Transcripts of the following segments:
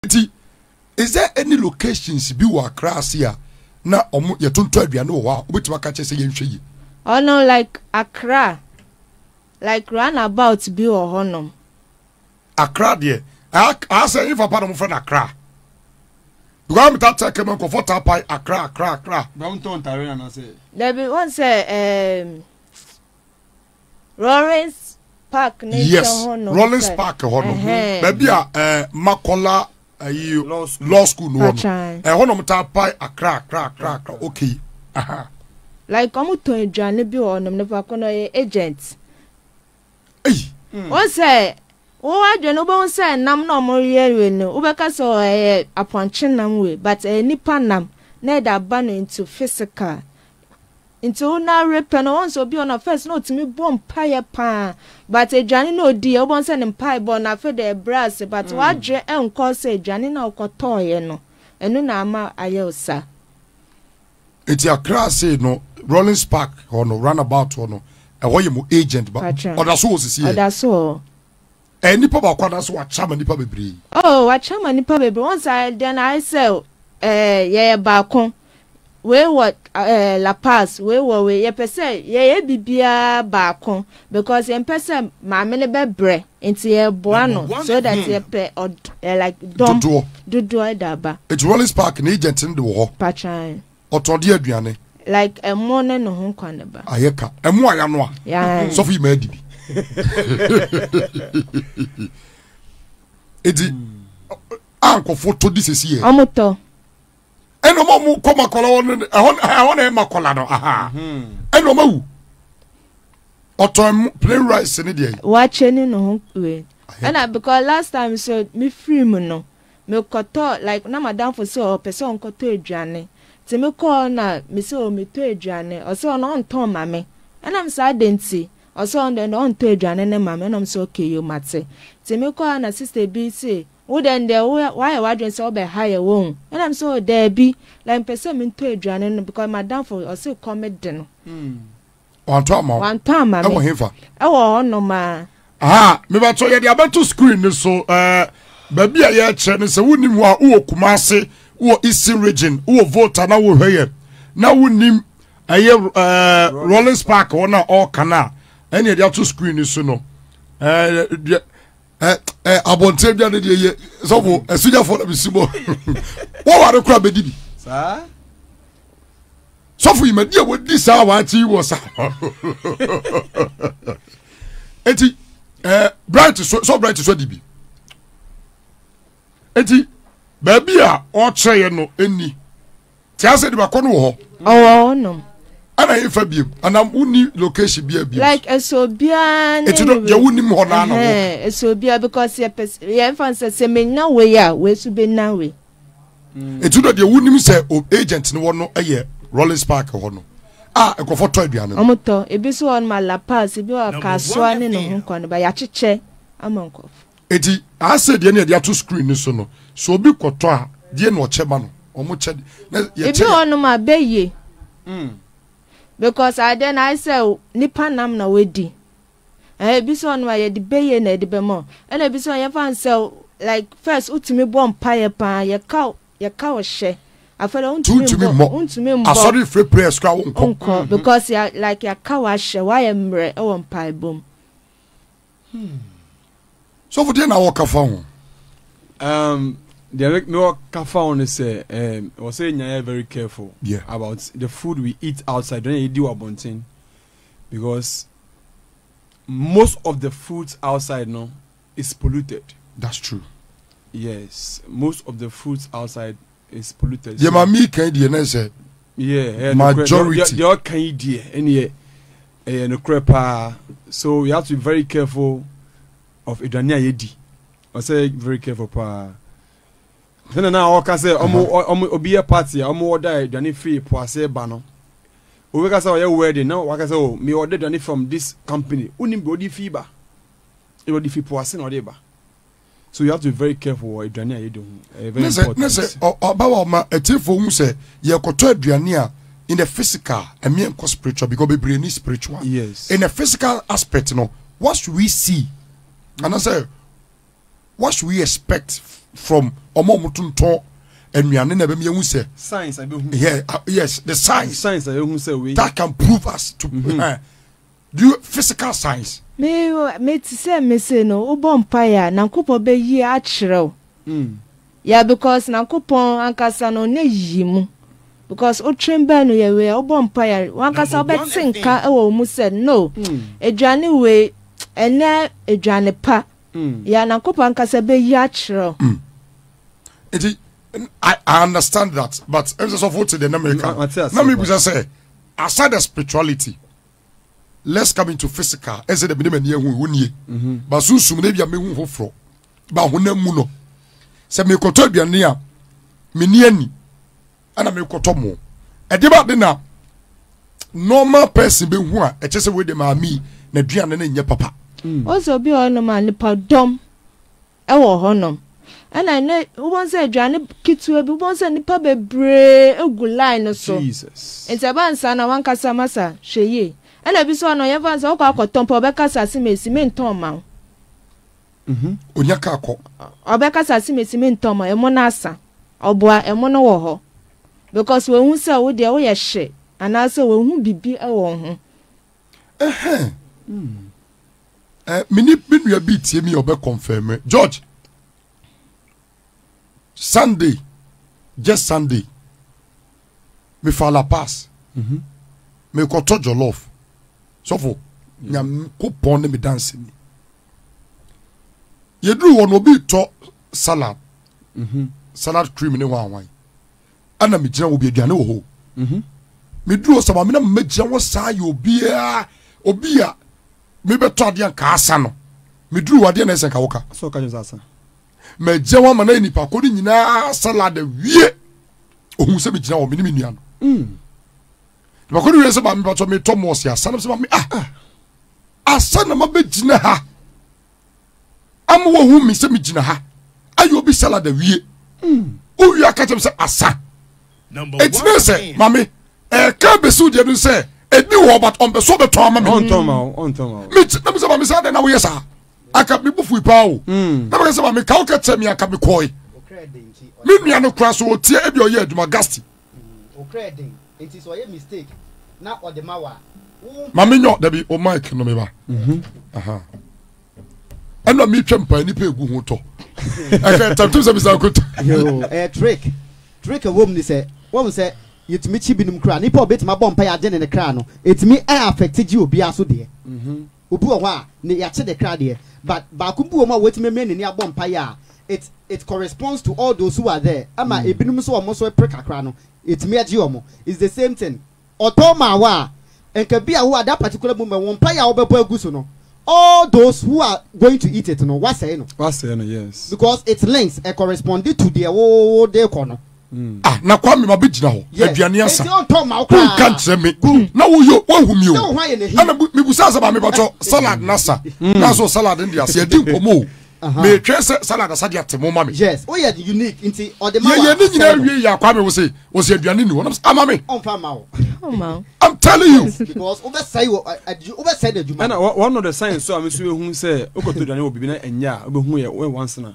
nti is there any locations bi wɔ akra ase a na ɔmo yɛtontɔ aduane wɔ hɔ a wobɛtumi aka kyerɛ sɛ yɛnhwɛ yie. Ɔno like akra like run about bi wɔ hɔ nom. Akra deɛ asɛ nfa pa na ɔmo fɛ no akra because ɔmo taa tẹ kẹmẹ nkɔfɔ taa pa akra akra akra. bɛn tɔn tare anasɛ. dabi wɔn sɛ ɛɛm. Um, Rawlings Park ne yes. nkyɛn hɔ nom. Rawlings sɛ- Park hɔ nom. Ɛhɛn. Baabi a eh, Makola ayi Law school. law school no wɔ no. Patran. Ɛhɔ nom taa pae akra akra akra akra. Okay. Aha. Like ɔmo tɔn aduane bi wɔ hɔnom, nipa ko no ɔyɛ agent. Ei. Wo sɛ, wo adwene wobɛhu sɛ nam na ɔmo yɛ wei no, wobɛka sɛ "Oh, ɛyɛ apɔnkye nam wei, but ɛyɛ nipa nam na ɛde aba no into physical. Nti wo na awerɛ pɛ no once obi ɔna first na otumi bɔ mpaeɛ paa but aduane na odiiɛ wobɛhu sɛ ne mpaebɔ no afe deɛ ɛbrɛ ase but wadwene ɛnkɔɔ sɛ aduane na wokɔtɔɔeɛ no ɛno na ama ayɛ wo saa. Eti akra sei no rollins park hɔ no run about hɔ no ɛhɔ yɛ mo agent ba ɔdaso hɔ sisi yɛ. Ɔdaso hɔ. Ɛyɛ nipa baako anaasɛ wakyɛ ama nipa bebree? Oh, wakyɛ ama nipa bebree. Wɔn sɛ ayɛ dɛn na ayɛ sɛ ɛɛ yɛyɛ baako. Wei wɔ ɛɛ La Paz, wei wɔ wei. Yɛpɛ sɛ yɛyɛ bibiara baako because yɛmpɛ sɛ maame no bɛbrɛ nti yɛboa no so that hmm. yɛpɛ ɔd ɛɛ like dɔm dodoɔ dodoɔ ɛda aba. Eti Rollins Park na agent no de wɔ hɔ. Patran. Ɔtɔ de aduane. Like ɛmo ne ne ho nkwa ne ba. Ayɛ ka. Ɛmo a yanoa. Sɔfo yi ma adi bi. Eti a nkɔfo tɔ di sisi yɛ. Ɔmo tɔ. Ɛna ɔmo ɔmo kɔ makɔla hɔ ne ɛhɔ ɛhɔ na ɛyɛ makɔla no aha. Ɛna ɔmo awu. Ɔtɔ ɛmo plain rice ne deɛ. Wakyɛ ne ne ho wei. Ɛna because last time so mi firi mu no. mekɔtɔɔ like na m'adamfo sɛ ɔpɛ sɛ ɔnkɔtɔ aduane nti mekɔɔ na mesɛ o metɔ aduane ɔsɛ ɔno ɔntɔn mma me ɛna mesɛ adɛn nti ɔsɛ ɔno deɛ ɔntɔ aduane ne mma me ɛna mesɛ okay yo mate nti mekɔɔ na sister bi se wo dɛn deɛ woayɛ w'adwene sɛ wobɛha yɛ wo ho ɛna mesɛ o daabi like mpɛ sɛ mentɔ aduane no because m'adamfo ɔse kɔ me de no mm. wantɔ ama wo wantɔ ama me ɛwɔ hefa ɛwɔ hɔ nom a aha mebatɔ yɛde abɛto screen ne so ɛɛ baabi a yɛkyerɛ ne sɛ wonim hɔ a wowɔ kumase wowɔ eastern region wowɔ volta na wohwɛ yɛ na wonim ɛyɛ ɛɛ rollins park wɔn a ɔɔka no a ɛne yɛde ato screen ne so no ɛɛ ɛ ɛ abɔnten dwa ne deɛ yɛ sɔfo ɛsigyafo na bɛsi bɔ wɔware kora bɛdi bi sɔfo yi madi a wɔdi saa waakye wɔ saa enti ɛ bright so sɔ bright so di bi enti baabi a ɔkyerɛeɛ no ɛnni te asɛ de bakɔ no wɔ hɔ ɔwɔ hɔnom ɛna yɛ fa biem anam wonni location bi a biem like ɛsɛ obiara ne ɛti no deɛ wonim hɔ naa na wɔ ɛsɛ obiara because yɛ pɛ yɛn fa sɛ sɛ menya wei a wei so bɛnya wei ɛti mm. no deɛ wonim sɛ agent no wɔ no yɛ rollins park hɔ no a nkurɔfoɔ tɔ aduane no wɔtɔ ebi so wɔ no ma la pass ebi wɔ kasoa ne ne ho nkɔ no ba yɛakyekyɛ ama nkurɔfoɔ Enti, asɛdeɛ no a yɛde ato screen no so no, sɛ obi kɔtɔ a, deɛ na ɔkyɛ ma no? Wɔn kyɛ de, na yɛkyɛ yɛ. Ebi wɔ nom a bɛyie. Mm. Because adeɛ no ayɛ sɛ nipa nam na wadi. Ɛhɛ ebi sɛ ɔnom a yɛde bɛyie na yɛde bɛma o. Ɛna ebi sɛ yɛmfa no sɛ like first wotumi bɔ mpaeɛ paa yɛka yɛka ɔhyɛ. Afei deɛ wontumi mbɔ wontumi mbɔ. Asɔre fɛ prayers koraa wonkɔ. Wonkɔ because yɛ like yɛaka wahyɛ wayɛ mmerɛ wɔ mpaebɔ mu. sɔfo deɛ na wɔka fa ho um, deɛ mewɔ ka fa ho no sɛ um, wɔ sɛ yɛnyayɛ very careful yeah. about the food we eat outside dɔn yɛdi wɔ abɔnten because most of the foods outside no is polluted that's true yes most of the foods outside is polluted. deɛ ma mi kan deɛ ne sɛ yeah, majority deɛ ɔka yi deɛ ɛneɛ ɛyɛ nokorɛ paa so you have to be very careful of aduane a yɛdi ɔsɛ very careful paa sɛnɛ na ɔka sɛ ɔmo ɔmo obi yɛ party a ɔmo ɔda aduane firi po ase ba no obi ka sɛ ɔyɛ wedding na waka sɛ o mi ɔda aduane from this company wonim deɛ ɔde fi ba ɛna ɔde fi po ase na ɔde ba. so you have to be very careful wɔ aduane a yɛdi ho ɛyɛ very important. ne sɛ ɔba wa ɔma atiefo hu sɛ yɛkɔtɔ aduane a in the physical ɛmi nkɔ spiritual because bebree ni spiritual yes in the physical aspect no what should we see anasɛ what should we expect from ɔmo ɔmo tontɔn nnuane na ɛbɛn mi ehu sɛ science abehu yeah uh, yes the science science abehu sɛ wei that can prove us to. Mm -hmm. uh, Do you physical science? Me me te sɛ me se no wo bɔ mpaeɛ a nyankopɔn bɛ yi akyerɛ wo yeah because nyankopɔn ankasa no ɔnyɛ yiyi mu because wo twen bɛn no yɛ wei a wo bɔ mpaeɛ a wankasa wo bɛ te nka wɔ wo mu sɛ no aduane wei ɛnyɛ aduane pa yeah nyankopɔn ankasa bɛ yi akyerɛ wo. Mm. Nti I, I understand that but ɛnsɛ sɛ sɔfo te deɛ na meka na mebisa sɛ aside the spirituality let's come into physical ɛsɛ dɛ mene m'ani ahu wonie mhm. ba sunsum no ebia mehu foforɔ ba honam mu no sɛ mekɔtɔ aduane a meni ani ana mekɔtɔ mo ɛde ba de na normal person bɛhu a ɛkyɛ sɛ wei de maame na aduane no nyɛ papa ɔsɛ mm. obi a ɔnom a nipa dɔm wɔ hɔnom. Ɛna nnɛ wobɛhu sɛ aduane ketewa bi, wobɛhu sɛ nnipa bebree gu line no so. Jesus. Nti ɛba nsa na wankasa masa hwɛ yie. Ɛna ebi so ano yɛmfa nsa wokɔ akɔtɔ mpo ɔbɛkasa se mesi mentɔn mma wo. Mhm. Onya ka kɔ. Ɔbɛkasa se mesi mentɔn mma ɛmo no asa. Ɔboa ɛmo no wɔ hɔ. Because wahu sɛ wo deɛ woyɛ hye anaasɛ wahu bibi wɔ ho. Ɛhɛn. Eh, me ni me nua bi tie mi ɔbɛ confirm George. Sunday, just Sunday. Me fa la pass. Mm -hmm. Me kɔtɔ jollof. Sɔfo, mm. nyame ko pɔn ne me dance ni. Yeduru hɔ no obi tɔ salad. Mm -hmm. Salad cream ne hwan hwan. ɛna megyina wɔ bi aduane wɔ hɔ mhm. meduru hɔ sɛ maame na mɛgyina wɔ saa yɛ obiara obi a mebɛtɔ adeɛ nka asa no meduru wɔ adeɛ na ɛsɛ nka woka mɛgyina wɔ ama na yɛ nipa kɔ no nyinaa salad awie ohun sɛ megyina wɔ mene me nua no mm. nipa kɔ no wie sɛ maame bɛtɔ metɔ mɔɔse asa no sɛ maame ah, ah. asa na mabɛgyina ha ama wɔhu me sɛ megyina ha ayɛ obi salad awie wowie aka kyɛm sɛ asa ɛkyerɛ sɛ mame ɛka bɛsiw deɛ no sɛ ɛni wɔ but ɔmpɛso bɛtɔ ama me na mesɛ mame sɛ dɛn na woyɛ saa aka mebu fui paa o hmm. na meka sɛ mame ka wokɛ kyɛ me aka mekɔe me nua no kora so ɔtie ebi ɔyɛ adwuma gasti Mm okra yɛ den nti sɛ ɔyɛ mistake na ɔde ma wa. Mami nyɔ dabi o mic no me ba. Mhm. Aha. Ɛna mi twɛ mpa nipa egu ho tɔ. Ɛkɛ tantum sɛ bisa ko. Yo ɛyɛ trick. Trick ɛwɔ mu ni sɛ wɔn sɛ yɛtumi kyi binom kra nipa ɔbɛtumi abɔ mpa yɛ agye ne ne kra no ɛtumi ɛ affect gye obiara so deɛ. Mhm. Obi wɔ hɔ a ne yɛakye de kra deɛ but baako bi wɔ mu a watumi amia n'ani abɔ mpaeɛ a it it corresponds to all those who are there ɛma ebinom nso a wɔn nso repere kakra no ɛtumi ɛgye wɔn. It's the same thing. Ɔtɔ maa wo a nka bi a wo at that particular moment wo mpaeɛ a wobɛbɔ agu so no all those who are going to eat it no woasɛe no. Woasɛe no yes. Because it links, ɛcorresponde to deɛ wo wo de rekɔ no. Mm. ah na kwame ma bɛgyina hɔ aduane asa wonka nkyerɛ me na woyɛ woahu mi o ɛna mebusaa sɛ ma mebɛtɔ mm. salad no asa mm. na so salad no de ase adi nkɔmmɔ o uh-huh. metwɛn sɛ salad asa de ate mo ma me yɛyɛ ne nyinaa wie yɛ akwame wo se wo se aduane ni hɔ ama me I'm telling you. because wobɛsɛe wɔ wobɛsɛe n'adwuma. ɛna wɔn no the sign so a mesu ehu sɛ okɔtɔ aduane wɔ bibi na ɛnyɛ a obehu yɛ wɔn wansena.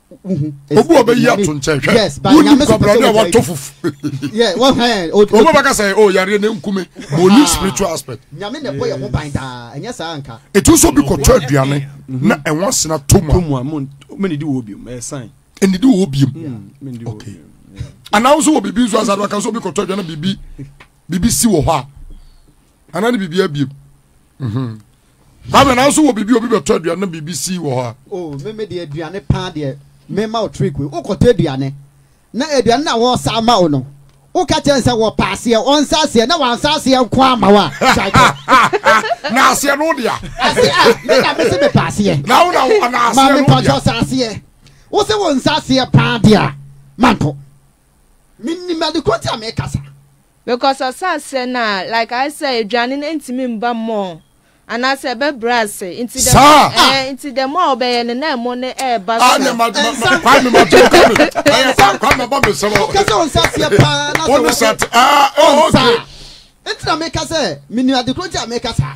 obi wɔ bɛyi ato nkyɛn hwɛ wonim kwabrane a watɔ fufu wobɛbɛka sɛ o yareɛ ne nkume ma ɔnim spiritual aspect ɛtu nso bi kɔtɔ aduane na ɛho asena to mu a ɛnidi wɔ biom anaa nso wɔ biribi nso asade waka nso bi kɔtɔ aduane na biribi si wɔ hɔ a Ana ne biribi abiem. Mhm. Baabi na nso wɔ biribi obi bɛtɔ aduane na biribi si wɔ hɔ a. O oh, me me deɛ aduane paa deɛ mema wo trick wei. Wokɔtɔ aduane na aduane na wɔsa ama wo no woka kyerɛ sɛ wɔpɛ aseɛ ɔnsa aseɛ na wansa aseɛ nko ama wo a na aseɛ no wodea ase a me na mese mepɛ aseɛ na wo na aseɛ no wodea ma mepatwɔ sa aseɛ wo se wo nsa aseɛ paa deɛ a manto Mennim ade korɔ nti a meka saa. Because ɔsaa sɛ na like ayɛ sɛ aduane no ntumi mba more anaasɛ ɛbɛbrɛ ase nti the more ɛɛ nti the more ɔbɛyɛ no na ɛmo no ɛɛba so. Ɛnsa nsa kwame ma to ka mi ɛyɛ sa kwame bɔ mi sɛ wɔ. Wokɛ sɛ ɔnsa seɛ paa na sɛ wɔde ɔnsa nti na meka sɛ menni ade koro nti a meka saa.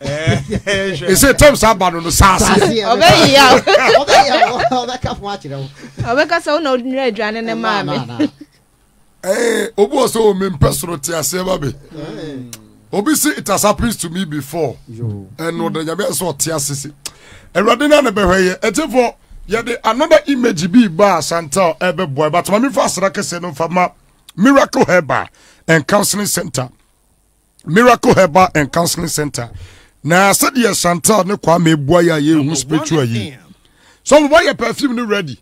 ɛsɛ eh, tɛm saa ba no no saase ɔbɛka sɛ wona wonwerɛ aduane ne maa me eh, obi wɔ sɛ wɔ mempɛ soro te aseɛ ba me obi se it has happened to me before ɛno ɔda nyame sɛ ɔte ase se awurade no a ne bɛhwɛ yɛ ɛtefoɔ yɛde another image bi ba a santal ɛbɛboa ɛbatoma mefa asra kɛseɛ no mfa ma miracle herba and counseling center miracle herbal and counseling center na sɛdeɛ chantal ne kwame bua yɛ a yɛhu spiritual yi so mobɔ yɛ perfume no ready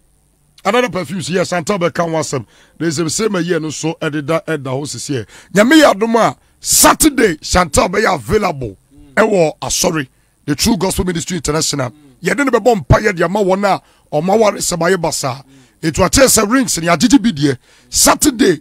another perfume so yɛ chantal bɛka ho asɛm na ɛsɛm sɛ ma yie no so ɛdeda ɛda hɔ sisiɛ nyame yɛ adom a saturday chantal bɛyɛ available ɛwɔ asɔre the true gospel ministry international yɛde no bɛbɔ mpa yɛde ama wɔn a ɔma ware sɛ bayɛ basaa ɛtu akyɛɛ sɛ rings ne agyegye bi deɛ saturday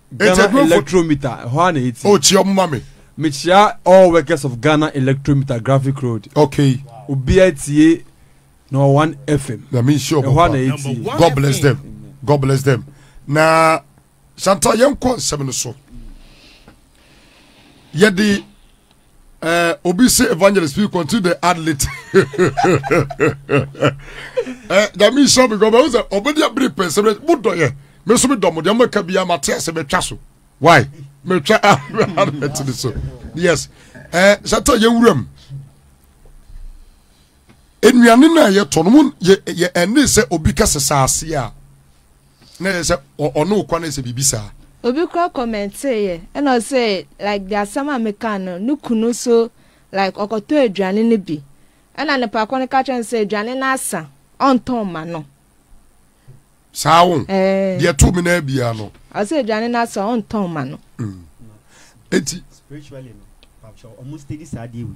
Ghana Eti Electrometer, ɛhɔ ara na ɛti. O kyia ɔmo ma me. Mekyia all workers of Ghana Electrometer Graphic Road. Okay. Obiara tie number one FM. Nyame nhyia ɔmo. Ɛhɔ ara na ɛti. God bless FM. them. God bless them. Na Chantal yɛn kɔ nsɛm no so. Yɛde Uh, obi se evangelist bi continue the ad lit eh, dame nhyɛ me gɔbɛ wo sɛ ɔbɛde abere pɛ sɛ modɔyɛ me so medɔ mo deɛ mɛka biaa mate ase mɛtwa so why mɛtwa admɛtene so yes eh, sɛ ta yɛwuram nnuane no a yɛtɔ no mu ɛne sɛ obi ka sɛ saaseɛ a Na ɛyɛ sɛ ɔne wo kwane sɛ biribi saa. Obi koraa kɔmɛntee yɛ ɛna ɔse like deɛ asɛm a mekaa no ne kunu nso like ɔkɔtɔɔ aduane no bi ɛna ne papa no ka kyerɛɛ no sɛ aduane no asa ɔntɔn mma no. Saa wo deɛ ɛtoo me naa biara no. Ɔse aduane no asa ɔntɔn mma no. Eti. Spiritually no, papa kyɛw ɔmo steady saa deɛ wei.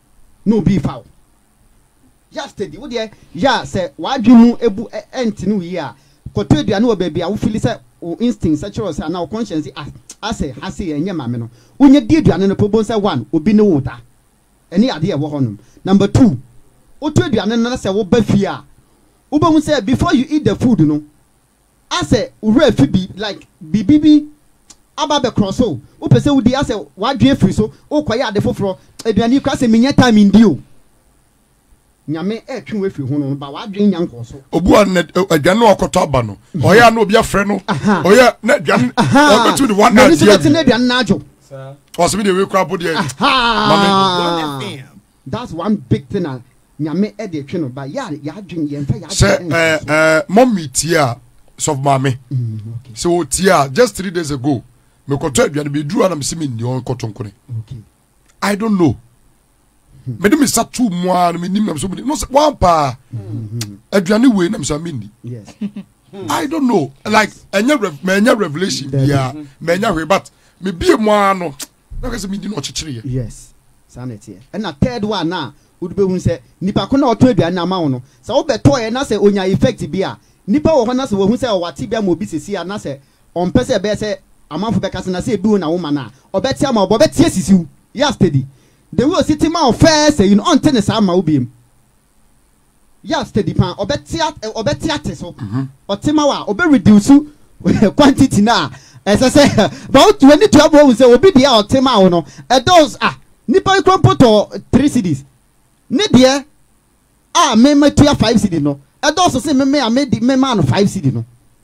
na obi refa wo. Yɛ steady. Wo deɛ yɛ a sɛ w'adwene mu bu ɛnte no yie a, kɔtɔ aduane wɔ baabi a wo fili sɛ wo instincts kyerɛ wo sɛ anaa wo conscience se ah asɛ ha sei ɛnyɛ ma me no, wonya di aduane no pɛ wobɛhu sɛ one, obi ne wo reda. Ɛne adeɛ a ɛwɔ hɔnom. Number two, wotɔ aduane no na sɛ woba fie a, wobɛhu sɛ before you eat the food no, Asɛ wo werɛ afi bi like biribi bi aba abɛkorɔ so wopɛ sɛ wodi asɛ w'adwene afiri so wokɔyɛ ade foforɔ aduane yi koraa sɛ mennya time ndi o Nyame ɛretwe wo afiri ho no ba w'adwene nya nkɔɔso. Obu a na aduane na ɔkɔtɔ aba no ɔyɛ a na obi afrɛ no ɔyɛ na aduane ɔbɛtu de one hour si awie ɔsɛ me deɛ wei koraa bo deɛ ma me. That's one big thing a Nyame de twe no ba. Yɛ a yɛadwen, yɛmfa yɛadwen Sɛ ɛnhyɛ ɛɛ so. ɛɛ mummy tie a, sɔfo maame, Mm, okay, sɛ otie a, just three days ago, mekɔtɔ aduane bi duru a na mesi menni hɔ nkɔto nkone. okay. I don't know. Mede me sa tu mu a na menim na mesɛ menim. No sɛ wan paa aduane wei na mesɛ menni. Yes. I don't know. Like ɛnyɛ rev mɛnyɛ revelation Dabi. biara mɛnyɛ hwee but mebie mu ara no Na ɔka sɛ me din na ɔkyekyereɛ. Yes saa na ɛteɛ ɛna third one no a wode bɛhunu sɛ nipa ko no a ɔtɔn aduane no ama wo no sɛ wo bɛtɔeɛ na sɛ ɔnya effect bi a nipa wɔ hɔ na sɛ wahu sɛ ɔwɔ atebea ama obi seesei a na sɛ ɔmpɛ sɛ ɛbɛyɛ sɛ amanfo bɛka sɛ na sɛ ɛbi wo na wo ma no a ɔbɛte ama wo but ɔbɛte asisi wo yɛ a steady the way ɔsi te ma wo first ayi no ɔnte no saa mma wo biom Yɛ a steady paa ɔbɛte at ɔbɛte ate so. Ɔte ma wo a ɔbɛ reduce quantity no a ɛsɛ sɛ ba wo to w'ani tua ma wahu sɛ obi deɛ a ɔte ma wo no ɛdɔɔso ah nipa yi kura mpo tɔɔ three cedis ne deɛ a me matua five cedi no ɛdɔɔso se me me a me de me maa no five cedi no.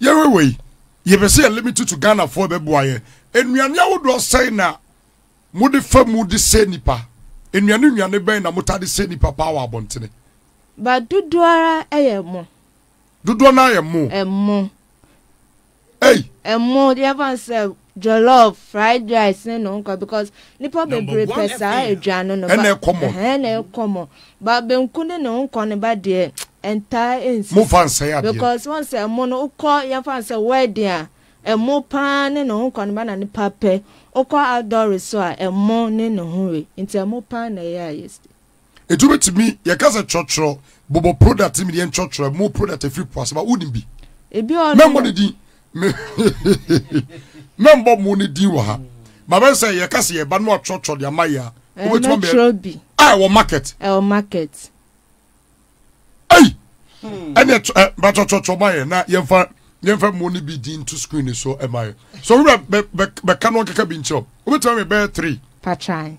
yɛwɛwɛ yi yɛpɛ sɛ yɛ limit to ghanafoɔ bɛboa yɛ nnuane ahodoɔ sɛn na mode fa mu de sɛ nipa nnuane nnuane bɛn na mota de sɛ nipa paa wɔ abɔntene ba dodoɔ ara ɛyɛ mo dodoɔ no ayɛ mo ɛmo ɛyi ɛmo deɛ ɛfa sɛ Jollof, fried rice ne no nkɔ because nipa bebree pɛ saa aduane no. Ɛna ɛkɔ mɔ. Ɛhɛn na ɛkɔ mɔ. Ba benku ne no nkɔ no ba deɛ ɛntaa ɛnsi. Mo fa nsɛe adeɛ. Because wɔn sɛ ɛmo no wokɔ yɛn fa no sɛ wedding a ɛmo paa ne no nkɔ no ba na nipa pɛ. Wokɔ outdoor resort a ɛmo ne no ho we. Nti ɛmo paa na ɛyɛ a yɛsi. Etu betumi, yɛka sɛ kyɔkyerɔ, bobɔ product mi deɛ nkyɔkyerɔ, mo product efiri po ase ba, wonim bi? Ebi ɔno. Mɛmbɔ ne din, me mɛmbɔ mo ne din wɔ ha. Ba bɛn sɛ yɛka sɛ yɛba no akyɔkyerɔ de ama yɛ a, wobɛtumi ama yɛ. Mɛkyerɛ bi. A ɛwɔ market. Ɛwɔ market. Ei, ɛne ɛ ba kyɔkyɔkyɔ ma yɛ na yɛmfa yɛmfa mo ne bi din to screen ne so ɛma yɛ. So wura bɛ bɛ bɛka no nkeka bi nkyerɛ, wobɛtumi ama yɛ bɛyɛ three. Patran.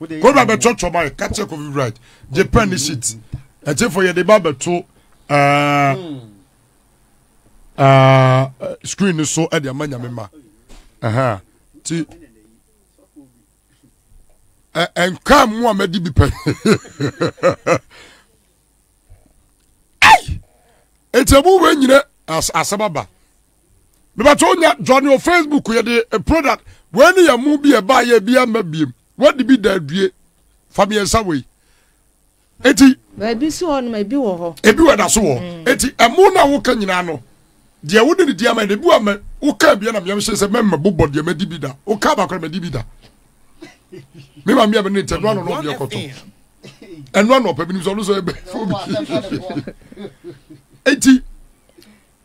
Kofi ba bɛtɔ twɔba yɛ kakyɛ Kofi Bright gye pɛ ne shit ɛtefo yɛde ba bɛto ɛɛ hmm. ɛɛ screen no so ɛde ama nyame ma ɛhɛn ti ɛ nkaa mu a mɛdi bi pɛ ɛyi nti ɛmu wɔ nyina asɛm aba. mebatɔ onya johnny o facebook yɛde eh, product wei ne yɛ mo bi ɛba yɛ bi ama biem wadi bi da adue fa mmiɛnsa wei eti baabi si hɔ nom ebi wɔ hɔ ebi wɔ da so wɔ mm. eti ɛmo na woka nyinaa no deɛ wode ne di ama yɛ no ebi wɔ ama woka abia na mmeɛm hyɛ sɛ mɛmma bobɔ deɛ mɛdi bi da woka abakora mɛdi bi da me ma mmea mene ntɛ noa no na ɔbi ɛkɔtɔ ɛnoa na ɔpɛ binom sɛ ɔno sɛ ɛbɛ fo bi eti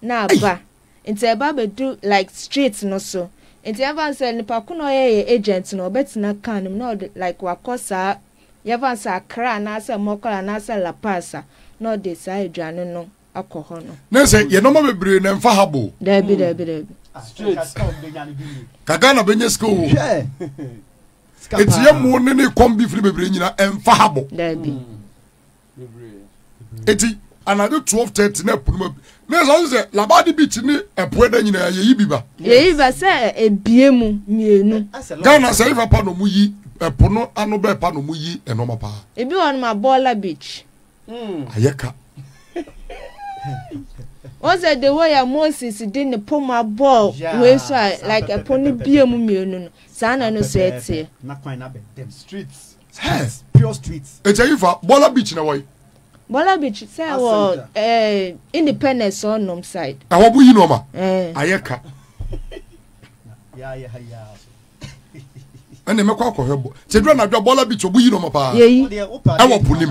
na aba nti ɛba bɛdu like street no so nti yɛmfa no sɛ nipa ko na ɔyɛ yɛ agent no ɔbɛtena car no mu na ɔde like wakɔ saa yɛmfa no sɛ Accra anaasɛ Mɔkɔla anaasɛ La Paz a na ɔde saa aduane no akɔ hɔ no. Na sɛ yɛ nɔɔma bebree na ɛmfa ha bo. Daabi daabi daabi. Ka Ghana bɛnya sika o. Eti yɛ mo ne ne kɔm bi firi bebree nyina ɛmfa ha bo. Daabi. eti anadwo twelve thirty na ɛpo no ma bi na ɛsɛ ɔsɛ sɛ labadi beach ne ɛpo ɛda nyinaa yɛyi bi ba. yɛyi ba sɛ ebie mu mmienu. ghana sɛ yifa pa na ɔmo yi ɛpo no ano bɛɛ pa na ɔmo yi ɛnɔɔma paa. ebi wɔ nom abɔɔla beach. Hmm. ayɛ ka. wọn sɛ de wɔ yɛ moses de ne po mu abɔɔ wei so a like ɛpo no bie mu mmienu no saa na ɛno so ɛteɛ. Hence, pure streets. It's a ifa. Bola Beach na wai. Bola Beach sɛ wɔ eh, Independence or nom side. Ɛhɔ bo yi nɔɔma. Eh. Ayɛ ka. ɛne mɛkɔ akɔhwɛ bɔ sɛ dura na dwa bɔla bi tɔbu yi nɔma paa ɛwɔ po nim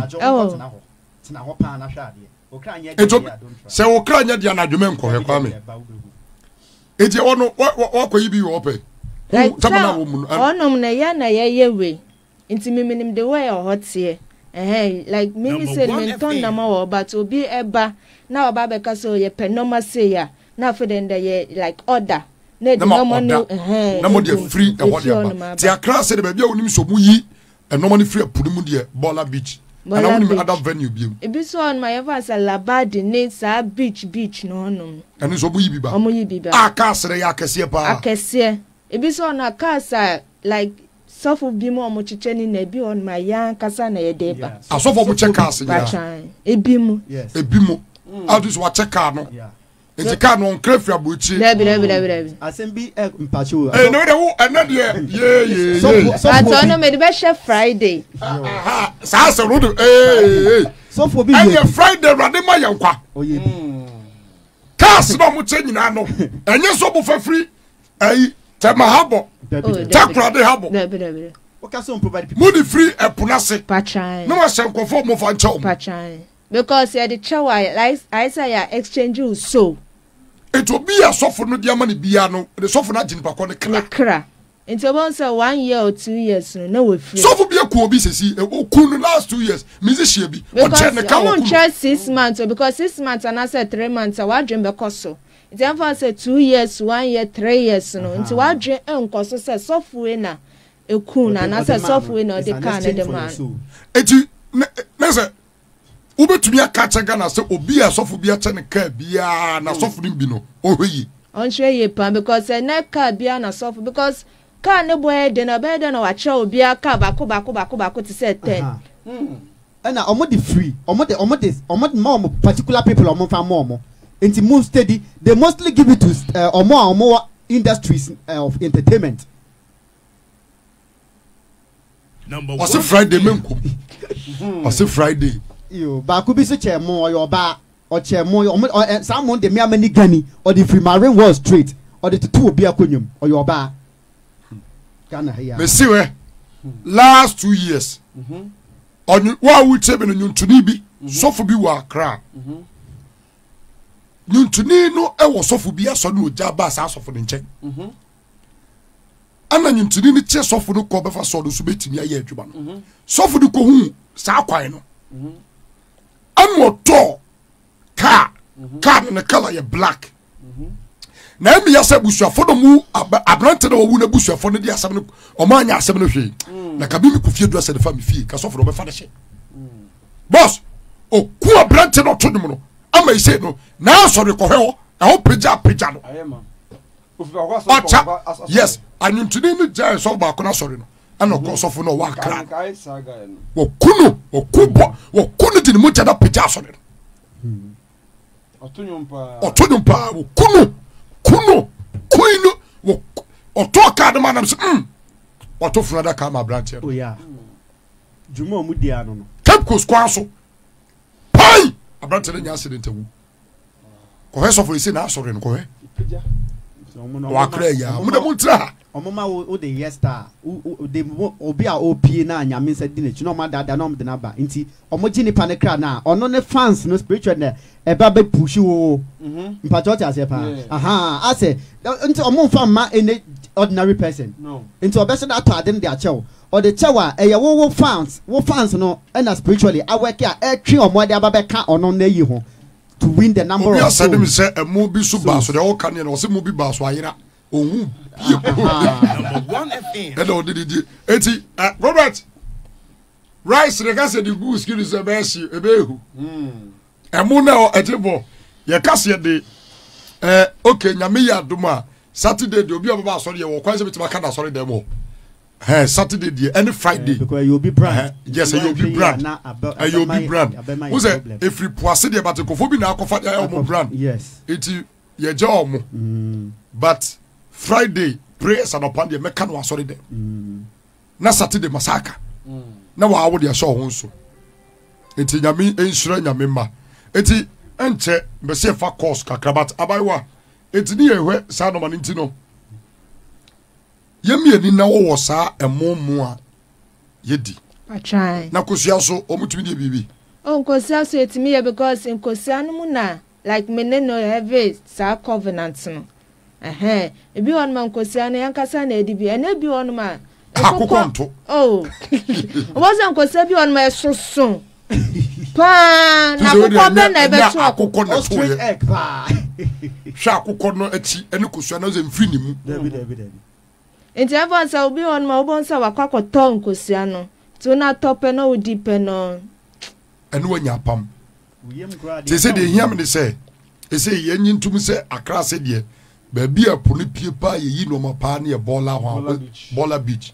ɛtɔ sɛ wokra nyɛ deɛ anadwomɛ nkɔhwɛ kwa me Eti ɛwɔ no wakɔ yi bi wɔ ɔpɛ. Ɔnom na ɛyɛ na yɛyɛ wei. Nti mi minim de wei wɔ hɔ teɛ. Ɛhɛn like mi mi se mi ntɔn nama wɔ hɔ but obi ɛba na ɔba abɛka sɛ ɔyɛ pɛ nɔma sei a na afei dɛ ndɛ yɛ like order na ɛde nɔma no ɛhɛn. Na mo deɛ firi ɛhɔ deɛ ba. Ti akra se de baabi a onim so mo yi Ɛnɔɔma no firi ɛpo no mu deɛ Bɔla beach Bɔla beach. Ana wonim ada venue biom. Ebi nso wɔ hɔnom a yɛfa no sɛ Labadi ne saa beach beach no hɔnom. Ɛno nso ɔmo yi bi ba. Ɔmo yi bi ba. A cars no yɛ akɛseɛ paa. Akɛseɛ. Ebi nso wɔ hɔnom a cars a like sɔfo bi mu ɔmo kyekyɛ ne nyinaa ebi wɔ hɔnom a yɛn ankasa na yɛde ba. Asɔfo ɔmo kyɛ cars nyinaa. Batwaan. Ebi mu. Yes. Ebi mu. Mm. Adi so wakyɛ car no. Yeah. nti kaa no ɔnkra firi aburokyire. dabi dabi dabi dabi. asɛm bi ɛ mpakyɛ o. ee na o de wo ɛnɛ deɛ yeeyeye. sɔfo sɔfo bi atɔ no mɛ de bɛ hyɛ friday. saa asɛm no de ee. sɔfo bi yɛ ɛnyɛ friday awurade ma yɛn kwa. ɔyɛ bi. kaas na ɔmo kyɛ nyinaa no ɛnyɛ sɔ bo fafiri ɛyi tɛma ha bɔ tɛkurade ha bɔ mo de firi ɛpo n'ase na wɔahyɛ nkɔfo ɔmo fa nkyɛw mo. Because yɛde kyɛ wo a ayɛ sɛ yɛ exchange wo soul. Nti obi a sɔfo no de ama no biara no ne sɔfo no agye nipa kɔ ne kra. Ne kra. Nti wobɛhu sɛ one year or two years no na wafiri. Sɔfo bi aku obi sɛsi oku no last two years musician bi ɔkyɛ ne ka oku no. Because ɔmo nkyɛ six months o because six months anaasɛ three months a w'adwene bɛkɔ so nti ɛmfa ho sɛ two years one year three years no nti w'adwene nkɔ so sɛ sɔfo wei na eku no anaasɛ sɔfo wei na ɔde kaa no de maa no. Eti ne sɛ wobɛtumi aka akyɛ ghana sɛ obi a asɔfo bi akyɛ ne kaa biara na asɔfo no bi no ɔhwɛ yie ɔnhwɛ yie paa because ɛnɛ kaa biara na asɔfo because kaa ne bɔ yɛ den ɛbɛyɛ dɛ na wakyerɛ obiara kaa baako baako baako baako te sɛ ten. ɛna ɔmo de free ɔmo de ɔmo de ɔmo ma ɔmo particular people ɔmo nfa ma ɔmo nti mo steady they mostly give it to ɔmo a ɔmo wɔ industries of entertainment. ɔse friday menko hmm. ɔse friday baako bi so kyɛ mo ɔyɛ ɔbaa ɔkyɛ mo ɔmo saa mo de mmea mani gani ɔde firi marine wall street ɔde tutu obi akonnwa mu ɔyɛ ɔbaa ghana ha yi a. mesi wɛ last two years mhm. ɔnye wo a wotie bi no nyontoni bi mhm. sɔfo bi wɔ akra mhm. nyontoni no wɔ sɔfo bi asɔ ne ogya ba saa sɔfo ne nkyɛn ɛna nyintini no kyɛ sɔfo no kɔ bɛfa sɔɔ no so bɛtumi ayɛ adwuma no mhm. sɔfo no kɔhu saa kwan no mhm. ɛna ɔtɔɔ kaa mhm. kaa no ne kala yɛ black na ɛmi yɛ sɛ abusuafo no mu aberante na wɔwu no abusuafo no de asɛm no ɔmo anya asɛm no hwee mm. na kabi mi kɔ fie dura sɛ ne fa mi fie ka sɔfo no ɔbɛfa ne hyɛ mm. bɔs oku aberante na ɔto dwom no ama yi sɛ no na asɔre kɔhɛ hɔ ɛhɔ pagya pagya no. ɔkya yes anwuntini no gyae sɔfo baako no asɔre no ɛna ɔkɔ sɔfo no ɔwɔ akra wɔku no wɔku bɔ wɔku no de ne mogya no apagya asɔre no ɔto nwom paa wɔku no ku no kui no ɔtɔɔ kaa no ma nam sɛ mm. ɔto funu adaka ma aberanteɛ no oh, cape coast kwan so pai aberanteɛ no nya accident awu kɔhwɛ sɔfo esi n'asɔre no kɔhwɛ wakra yi a mo na mo ntra ha. ɔmo ma wo wo de yɛ star wo de obi a opie na nyame nsa di n'akyi na ɔmo adaadaa na ɔmo de n'aba nti ɔmo gye nipa ne kra na ɔno ne fans no spiritual na ɛba bɛ push wo wo mhm. mpatsɛ ɔte aseɛ paa ahaa asɛ nti ɔmo nfa mma any ordinary person nti ɔbɛhyɛ de atɔ ade no de akyɛw Ɔde kyɛw a ɛyɛ wo wo fans wo fans no na spiritually awɛke a ɛtwe ɔmo ɛde aba bɛka ɔno na ɛyi ho to win the number of souls. Obi asɛde me sɛ ɛmo bi so baa so deɛ ɔka neɛ no ɔse mo bi baa so ayera ɔhu bie kuro bia ɛna ɔde ne die eti eh, Robert rice ne ka sɛ de gu skin sɛ ɛbɛyɛ hye ɛbɛyɛ hu ɛmo na ɛte bɔ yɛ ka sɛ de eh, ok nyame yɛ adom a Saturday deɛ obi a ɔbɛba asɔre yɛ wɔ kwan sɛ bɛtumi aka na asɔre dɛm hɔ Ɛhɛn, Saturday deɛ, ɛne Friday. Because ɛyɛ obi brand. Ɛhɛn, yes, ɛyɛ obi brand. Ɛyɛ obi brand. Wo sɛ, efiri po ase deɛ, but nkorɔfoɔ bi na akɔfa deɛ ayɛ ɔmo brand. Yes. Nti, yɛgya ɔmo. Mm. But, Friday prayers anɔpa deɛ, mɛka no asɔre dɛ. Mm. Na Saturday masaka. Mm. Na wɔawo deɛ ɛhyɛ ɔho nso. Nti, nyame nhyira nyame mma. Nti, ɛnkyɛ, mbɛsi ɛfa course kakra, but abayewa, nti ne yɛ hwɛ saa nɔma ne nti no. Yɛn mmieni na wɔwɔ saa ɛmo mo a yɛdi. Atwan. Na kosua so wɔn tumi deɛ biribi. Oh nkosua so yɛtumi yɛ because nkosua no mu na like me ne no ɛve saa covenant no. Ɛhɛn ebi wɔ nom a nkosua no yɛn kasa na yɛde bi ɛna ebi wɔ nom a. Akokɔ nto. Oh. Wɔn sɛ nkosua bi wɔ nom a ɛsoso. paa na akokɔ bɛ na ɛbɛto akokɔ na ɛto yɛ hwɛ akokɔ no akyi ɛne kosua na ɔsɛ mfiri ne mu. nti ɛfɔ sɛ obi hɔ nom a wobɛhu sɛ wakɔ akɔtɔ nkosua no nti wona atɔ pɛ na wodi pɛ no. ɛne wanya apam te sɛ deɛ ɛhia me ne sɛ ɛsɛ yɛnye ntom sɛ akra ase deɛ baabi a po no pie paa yɛyi nnoɔma paa ne yɛ bɔɔla hɔ bɔɔla beach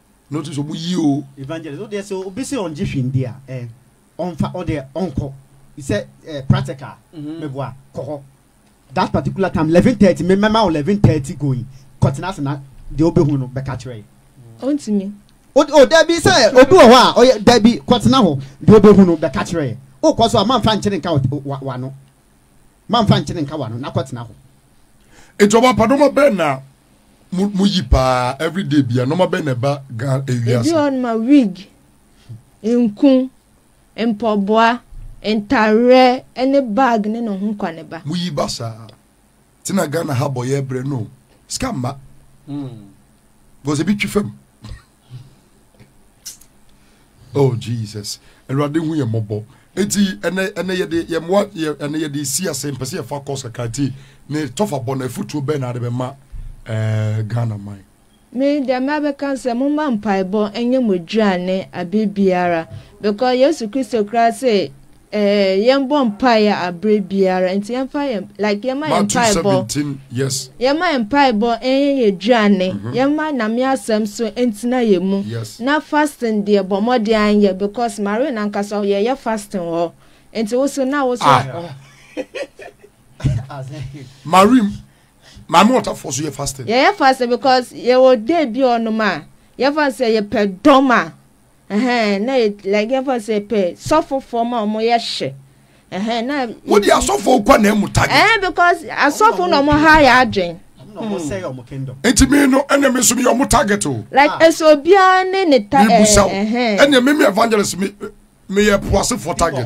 Notice ɔmo yi o. Evangelist ɔdeɛ sɛ obi sɛ ɔngye hwee ndi a ɛ ɔnfa ɔdeɛ ɔnkɔ sɛ ɛ practical mɛboa kɔ hɔ that particular time eleven thirty me mɛma wo eleven thirty going kɔ tena ase na deɛ ɔbɛhu no bɛka kyerɛ yɛ. Ɔntumi. O o dabi sɛ obi wɔ hɔ a ɔyɛ dabi kɔ tena hɔ deɛ ɔbɛhu no bɛka kyerɛ yɛ okɔ so a mamfa nkyere nka wa wa wano Ma mfa nkyene nka w'ano na kɔtena hɔ. Nti ɔba pa nɔma bɛn na mo mo yi paa everyday bia nɔma bɛn na ɛba gan ewi ase. Ebi wɔ noma wig, nku, mpɔboa, ntareɛ ɛne bag ne ne ho kwa ne ba. Mo yi ba saa. Ti na Ghana ha bɔ yɛ brɛ no sika mma. Because ebi twi fam. oh jesus awurade hu yɛ mmɔbɔ eti ɛnɛ ɛnɛ yɛde yɛn mmoa yɛ ɛnɛ yɛde si ase mpɛsɛ yɛ fa kɔs kakra ti ne tɔfa bɔ na efutuo bɛn na ade bɛ ma ɛɛ eh, ghana man. me deɛ mɛbɛka sɛ momma mpaebɔ ɛnyɛ mo aduane abe biara because yesu kristo koraa sɛ Ɛɛ yɛn bɔ mpae a abere biara nti yɛn fa yɛn like yɛn ma yɛn mpae bɔ yes yɛn ma yɛn mpae bɔ ɛyɛ yɛ aduane mm -hmm. yɛn ma nyame asɛm so ntina yɛ mu yes na fasting deɛ bɔ mmɔden anyɛ because mare nankasa yɛ yɛ fasting wɔ nti woso na woso ah. oh. marim maame ɔtafoɔ so yɛ fasting yɛ yɛ fasting because yɛ wɔ day bi ɔnom a yɛ fa sɛ yɛ pɛ dɔm a. Ɛhɛn na yɛ like yɛfa sɛ pɛ sɔfofo ma ɔmo yɛ hye. Ɛhɛn na. Wo di asɔfo kɔ na emu tagi. Ɛhɛn because asɔfo na ɔmo ha yɛ adwen. Eti mi no ɛna mi nso mi yɛ ɔmo target o. Like ɛsɛ obiara ne ne ta ɛɛ. Mi busa o ɛna mi mi evangelist mi mi yɛ puasefo target.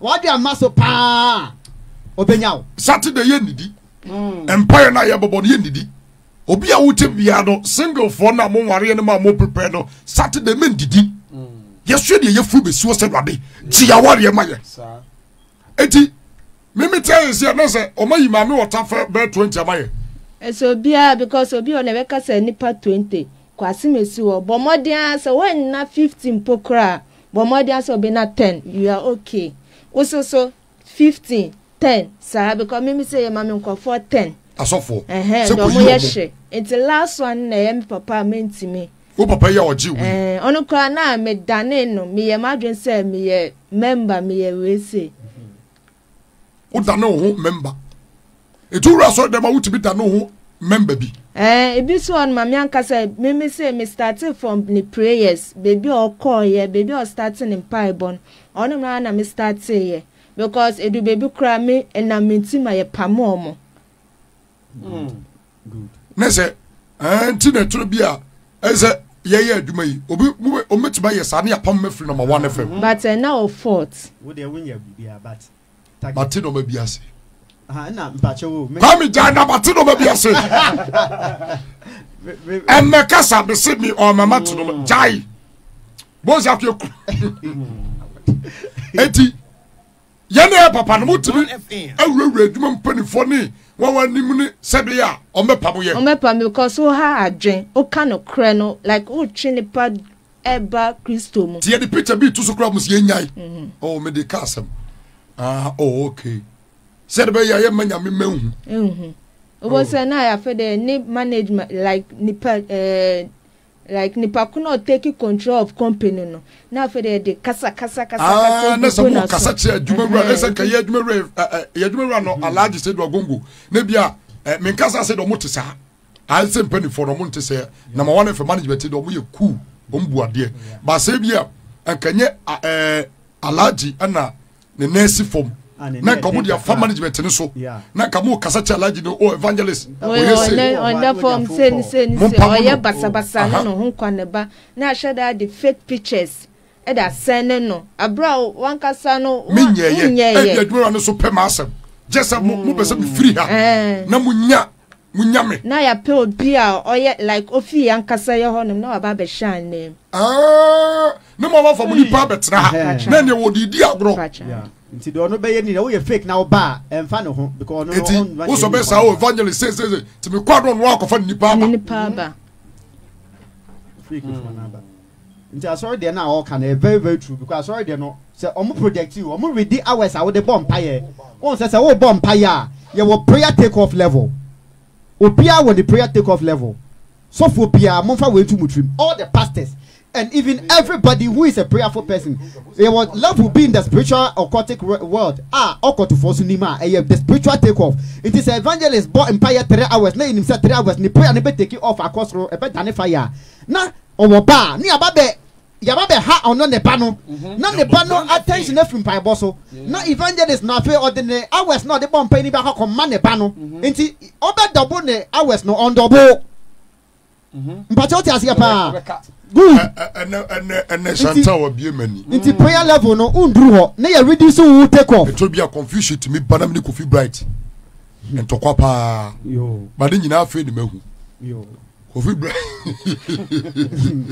wɔde ama so paa ɔbɛnya wo saturday yɛ nnidi hmm. mpaeɛ no a yɛbɛbɔ no yɛ nnidi obi a wote biara no singlefoɔ no a monwareɛ no ma a moprepare no saturday mendidi hmm. yɛsua deɛ yɛfiri bɛsuo sɛ wade gye yawareɛ ma yɛ ɛnti memete ayɛ sɛ na sɛ ɔma yi maame wɔta fɛ bɛɛ 20 ama yɛ ɛsɛ obiara because obi ɔna ɛbɛka sɛ nipa 20 kwasem esi hɔ bɔ mmɔden ara sɛ wɔnna 15 mpo koraa Bɔ mmɔden ara sɛ wobɛnya ten, you are okay. Wo nso so, fifteen, ten, saa because mimi sɛ yɛma me nkurɔfoɔ ten. Asɔfoɔ, Ɛhɛn, sɛ deɛ wɔyɛ kɔyi wɔn. hye. Nti last one no na ɛyɛ me papa a mentumi. Wo papa yi a ɔgye wei. Ɛɛ, ɔno koraa na medanee no, meyɛ m'adwene sɛ meyɛ member, meyɛ wei sei. wodane wo ho mɛmba ɛtu wura sɔre dɛm a wotumi dane wo ho mɛmba bi eh, ebi nso wɔ no ma me ankasa meme sɛ me starte from ne prayers baabi a ɔkɔɔyɛ baabi a ɔstarte ne mpaebɔ no ɔno mmaa na me starteeɛ because ɛdu baabi koraa me ɛnam me nti ma yɛpamo ɔmo ne sɛ nti na ɛtoro bi a ɛsɛ yɛyɛ adwuma yi obi wɔbɛtumi ayɛ saa ne apam ma firi nɔma wa no fam but ɛna wɔ fort wodeɛ wonyɛ biribiaa but bate nɔma bi ase kwame gyae na bate nɔma bi ase ɛnɛ kasa mese me ɔmama te nɔma gyae bose afei kuro eti Yɛne yɛ papa no motumi awurawura adwuma mpanimfoɔ ne wɔn anim ne sɛdeɛ a wɔbɛpamo yɛn. Wɔbɛpamo because woha adwen, woka nokorɛ no like wotwe nipa ɛba Kristo mu. Nti yɛde picture bi to so koraa wɔn sɛ yɛnyae. Mhm. Oh, mede ka asɛm. Ah, oh, okay. Sɛ de bɛyɛ a yɛmma nyame mma nhu. Nhu. Wobɔ sɛ na yɛafɛ dɛ ne management like nipa ɛɛ eh, Like nipa ko na ɔtake control of company no na afei de yɛde kasa kasa kasa ah, kasa gu na sɛ mo kasa kyerɛ adwumawura ɛsɛ nka yɛ adwumawura yɛ adwumawura no alaagye sɛ do agongo na bi a me nkasa sɛ de ɔmo te saa ayɛsɛ mpanimfoɔ no ɔmo nte sɛ na ma wɔn fɛ management de ɔmo yɛ cool ɔmo bu adeɛ baasa bi a nkanyɛ ɛɛ alaagye ɛna ne nan si fam ah, na nka mo de afa management no so na nka mo kasa kyɛ alagye no o oh, evangelist oyɛ se ɔda fam sɛ ne sɛ ne sɛ ɔyɛ basabasa ne ne ho nkwa ne ba na ahyɛ da de fake pictures ɛde asɛn ne no abira a wankasa no menyɛ yɛ ɛbi adwuma no so pɛ maa asɛm gyɛ sɛ mo mo pɛ sɛ mo firi ha mm. eh. na mo nya Mo nyame. Na yɛapɛ obi a ɔyɛ like ofi yɛn ankasa yɛ hɔnom na waba abɛhyɛ anan mu. Aah ne mo a wafa mo nipa abɛtena ha na ɛneɛ wɔ de di agorɔ. Yeah nti deɛ ɔno bɛyɛ ni na woyɛ fake na woba a ɛnfa ne ho because ɔno no ɔn run wosɔ bɛ saa o evangelist se se se ti mi kɔ ano ɔno akɔfa ne nipa aba. Ne nipa aba. Fake fo na aba. Nti asɔre deɛ no a ɔɔka no ɛyɛ very very true because asɔre deɛ no sɛ ɔmo project you ɔmo redi hours a wode bɔ mpaeɛ wohu sɛ sɛ wobɔ mpaeɛ a yɛwɔ prayer take off level obiara wɔ ne prayer take off level sɔfoɔ biara momfa wei nto mo tirim all the pastors and even everybody who is a prayerful person yɛwɔ level bi in the spiritual occultic world a ɔkɔtofoɔ so nim a ɛyɛ the spiritual take off nti sɛ evangelist bɔ mpaeɛ 3 hours na yɛnim sɛ 3 hours ne prayer no bɛ take off akɔ soro ɛbɛdane fire a na Ɔwɔ ba a, ne aba bɛ yaba bɛ ha ɔno ne ba no na ne ba no attention afiri mpaebɔ so na evangelist no afei ɔde ne hours na ɔde bɔ mpae no bi akɔ akɔ ma ne ba no nti ɔbɛ double ne hours no ɔndɔboo mpakyɛ wote aseɛ paa good ɛnɛ shanta wabie mani nti prayer level no wonduru hɔ na yɛ ready so wo take off ɛtɔ bi a confusion tumi ba na mene kofi bright ntɔkwa paa ba ne nyinaa afei ne mahu Kofi bra.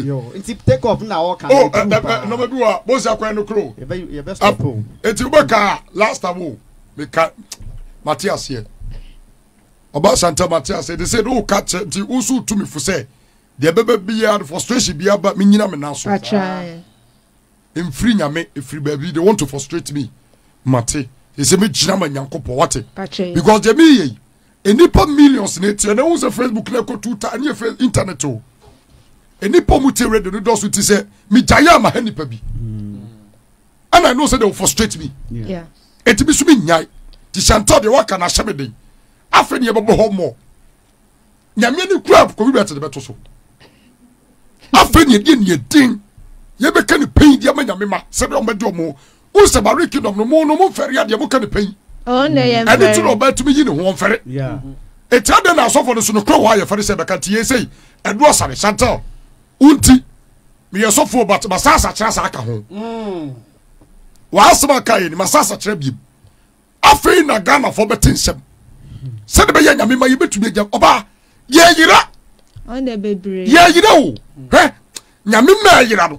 Yo, nti take off na o kan. Oh, eh, eh, no me bi wa, bo se akwan no kro. Ye be ye be stop o. Enti wo ka last time o. Me ka Matias here. Oba Santa Matias, they say no ka che nti wo so tumi fo se. Dia bebe bia frustration bia ba me nyina me na so. Atra. Mfiri nyame ɛfiri baabi they want to frustrate me mate ɛsɛ mɛgyina ma nyankopɔn wate because deɛ meyɛ yi nnipa millions na ɛtiɛ na ɛhu sɛ facebook na ɛkɔ tuta ɛnyɛ internet o nnipa mu tie radio no dɔso ti sɛ megyaeɛ ama ha nnipa bi ɛna ɛno sɛ they will frustrate me ɛti bi so menyae nti hyɛntɔ deɛ waka na ahyɛ me den afei ne yɛbɛbɔ hɔ mmɔ nyame ne kura kofi bɛte ne bɛto so afei ne ɛdeɛ neɛ din yɛbɛka ne pɛyi deɛ ma nyame ma sɛdeɛ ɔmɛde ɔmo wo sɛ bare kingdom no mo no mo mfɛre adeɛ moka ne pɛyi ɛne ti na ɔbɛtumi yi ne ho ɔmfɛre ɛti adɛn na asɔfo no so no kora wɔ ayɛfɛre sɛ bɛka nti yɛ sɛi ɛdoɔ sane chantel wonti meyɛ sɔfoɔ but masasa kyerɛ saa ka ho mm. wɔasɛm aka yɛ ni masasa kyerɛ biem afei na ghanafoɔ bɛte nsɛm sɛde bɛyɛ nyame ma yɛbɛtumi agya ɔbaa yɛyera yɛyera o hɛ nyame ma ɛyera no